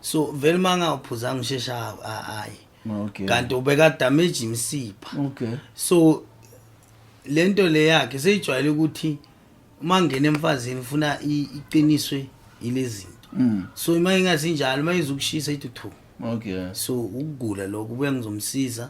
so vele manga uphuza ngishesha hayi okay kanti ubeka damage imsipha okay so lento le yakhe seyijwayele ukuthi uma ngena emfazini ufuna iqiniswe ilezinto mm. so uma ingasinjalo uma izokushisa ithi thu okay so ukugula lokho kubuye ngizomsiza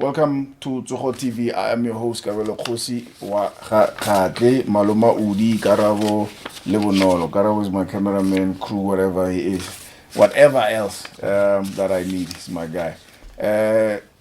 Welcome to Tsogo TV. I am your host Kabelo Kgosi wa Khatle Maloma Udi Karabo Lebonolo. Karabo is my cameraman, crew, whatever he is. Whatever else um, that I need is my guy. Uh,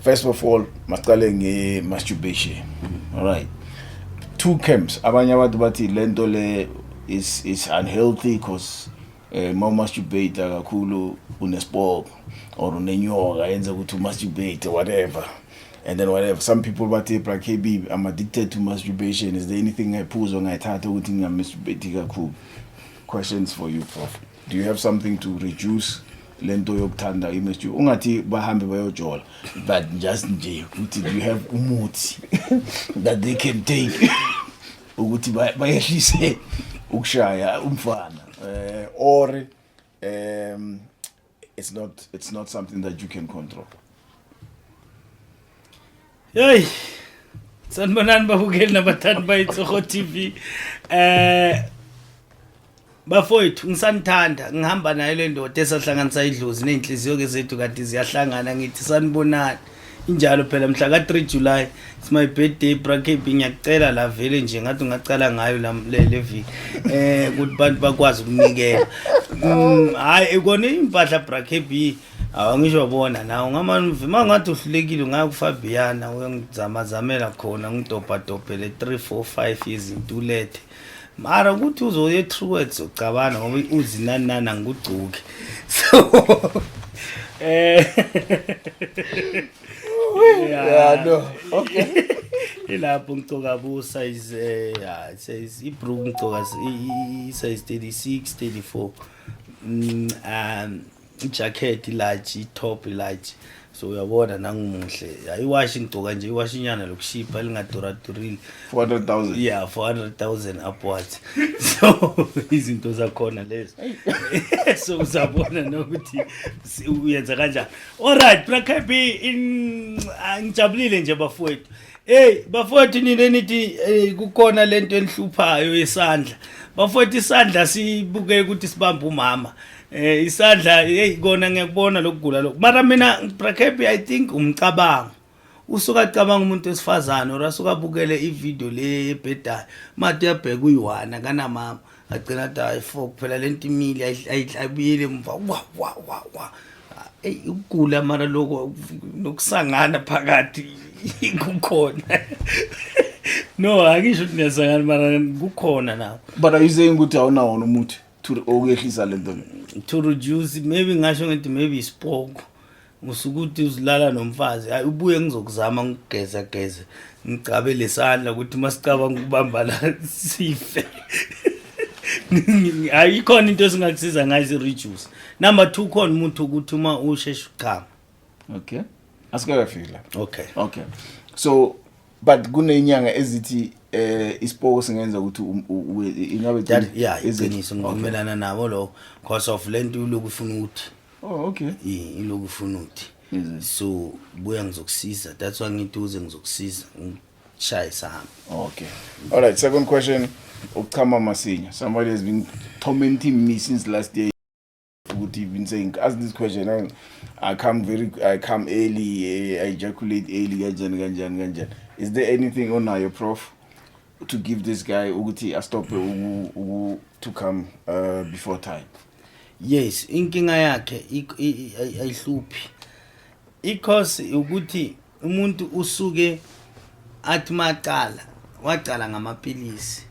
First of all, masiqale nge masturbation. All right. Two camps. Abanye abantu bathi lento le is is unhealthy because eh uma masturbate kakhulu unespoke or unenyoka yenza ukuthi umasturbate whatever and then whatever some people bathi bra KB I'm addicted to masturbation is there anything I phuzo ngayithatha ukuthi ngingamasturbate kakhulu questions for you prof do you have something to reduce lento yokuthanda image ungathi bahambe bayojola but just nje ukuthi you have umuthi that they can take ukuthi bayehlise ukushaya umfana eh or um it's not it's not something that you can control Hey! Sanibonani babukeli nabathandi bayitsoho TV. Eh Bafowethu ngisanithanda ngihamba naye le ndoda esahlanganisa idlozi nezinhliziyo ke zethu kanti ziyahlangana ngithi sanibonani. Injalo phela mhla ka 3 July it's my birthday bracket ngiyacela la vele nje ngathi ungacala ngayo la le viki eh ukuthi abantu bakwazi ukunikela. Mm, Hayi ekona impahla bracket Awu ngisho bona nawe ngamane uma ngathi uhlulekile ungaya kuFabiana uyongizamazamela khona ngidobhadobhele 3 4 5 izinto ulethe mara ukuthi uzoye true words ucabana ngoba uzinanana ngigugcuke so eh yeah no okay ilapho ngictoka bu size eh, yeah size ibrook ngictoka size 36 34 um ijacket ilaji itop ilaji so uyabona nangimuhle ya iwashi ngigcoka nje iwashi inyana lokushipha lingaduradurili 400000 yeah 400000 upwards so izinto zakhona lezo so uzabona nokuthi si- uyenza kanjani alright brakabi in ah, ngijabulile nje bafowethu Hey bafowethu nina nithi eh, kukhona lento enihluphayo yesandla. Bafowethu isandla sibuke ukuthi sibamba umama. Eh isandla hey kona ngiyakubona lokugula lokho. Mara mina Brakhappy I think umcabango. Usuka cabanga umuntu wesifazane or asuka bukele ivideo le ebhedayo. Mati uyabheka uyiwana kana mama. Agcina athi hayi fo kuphela lento imile ayibuyele emva. Wa wa wa wa. Ey ukugula mara lokho nokusangana phakathi kukhona. No akisho ukuthi niyasangana mara kukhona nawo. But are you saying ukuthi awunawona umuthi? to okuyehlisa lento to reduce maybe ngasho ngithi maybe isipoko usukuthi uzilala nomfazi hayi ubuye ngizokuzama ngigeza geza ngicabe lesandla ukuthi masicabanga ukubamba la sife hayi ikhona into esingakusiza ngayo si-reduce number two khona umuntu ukuthi uma usheshe uchama okay asikakafiki la okay okay so but kunenyanga ezithi eh isipoko singenza ukuthi um, ingabe that yeah iqiniso ngivumelana nabo lo because of lento uloku ufuna ukuthi oh okay iloku ufuna ukuthi so buya ngizokusiza that's why ngithi uze ngizokusiza ngishaya isahamba okay all right second question ukuchama masinya somebody has been tormenting me since last day ukuthi you've been saying ask this question I, I come very I come early eh, I ejaculate early kanjani kanjani kanjani is there anything onayo prof to give this guy ukuthi astop uku to come uh, before time yes inkinga yakhe ayihluphi ikhosi ukuthi umuntu usuke athi maqala waqala ngamapilisi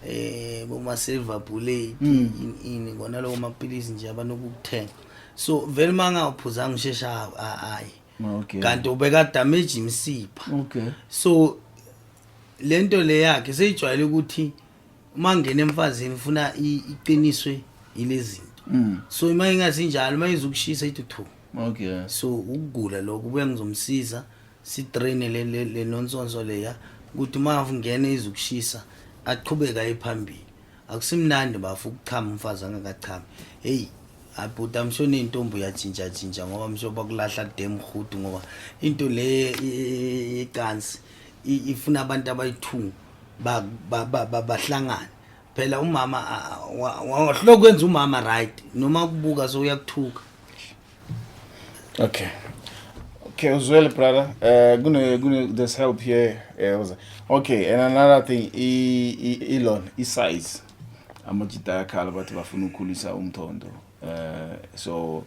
eh boma silver bullet hmm. ini ngona lowo mapilisi nje abanokuthenga so vele manga uphuzanga ushesha hayi okay kanti ubeka damage imsipha okay so lento le yakhe seyijwayele ukuthi uma ngena emfazini ufuna iqiniswe yilezinto mm. so uma ingasinjalo uma izukushisa ithi thu okay so ukugula lokho kuya ngizomsiza si train le le, le nonsonso leya ukuthi uma ungena izukushisa aqhubeka ephambili akusimnandi bafu ukuchama umfazi angakachami hey abhuti amsho nentombi uyatshintsha tshintsha ngoba msho bakulahla dem hudu ngoba into le icansi ifuna abantu abayithunga bahlangane phela umama wahloko kwenza umama right noma kubuka so uyakuthuka okay okay uzwele brother uh, kune kune there's help here eh, uh, okay and another thing i elon i size amajita yakhala bathi bafuna ukukhulisa umthondo uh, so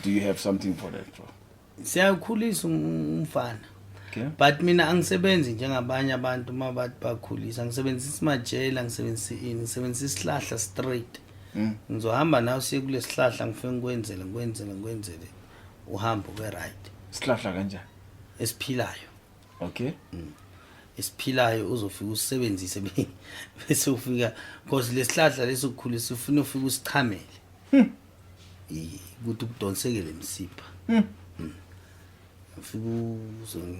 do you have something for that bro siyakhulisa umfana okay. but mina angisebenzi njengabanye abantu uma bathi bakhulisa ngisebenzisa isimajela ngisebenzisa ini ngisebenzisa isihlahla straight mm. ngizohamba nawe siye kule sihlahla ngifike ngikwenzele ngikwenzele ngikwenzele uhambe ube right isihlahla kanjani esiphilayo okay mm. esiphilayo uzofika usisebenzise bese ufika because lesihlahla lesokukhulisa ufuna ufika usichamele hmm. ukuthi kudonseke le msipha hmm. Hmm. ufike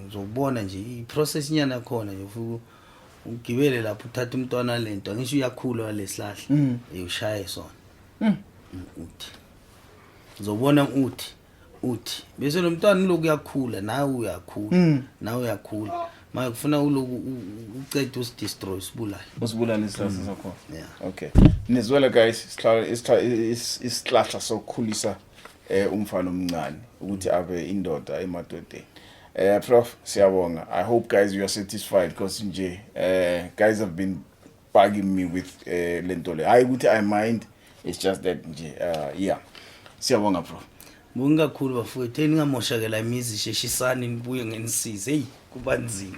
uzobona nje iprocess inyana yakhona nje ufike ugibele lapho uthatha umntwana lento ngisho uyakhula walesihlahla hmm. uyoshaye sona uthi uzobona uthi uthi bese lo mntwana uloku uyakhula nawe uyakhula mm. nawe uyakhula manje kufuna uloku ucede usidestroy usibulale usibulale isihlahla mm. sakhona yeah okay nizwela guys isihlahla sokukhulisa eh umfana omncane ukuthi abe indoda emadodeni eh prof siyabonga i hope guys you are satisfied because nje eh guys have been bugging me with eh lento le hayi ukuthi i mind it's just that nje uh yeah siyabonga bro Bonke kakhulu bafowethu eningamoshakela imizi sheshisani nibuye ngenisize hey kuba nzima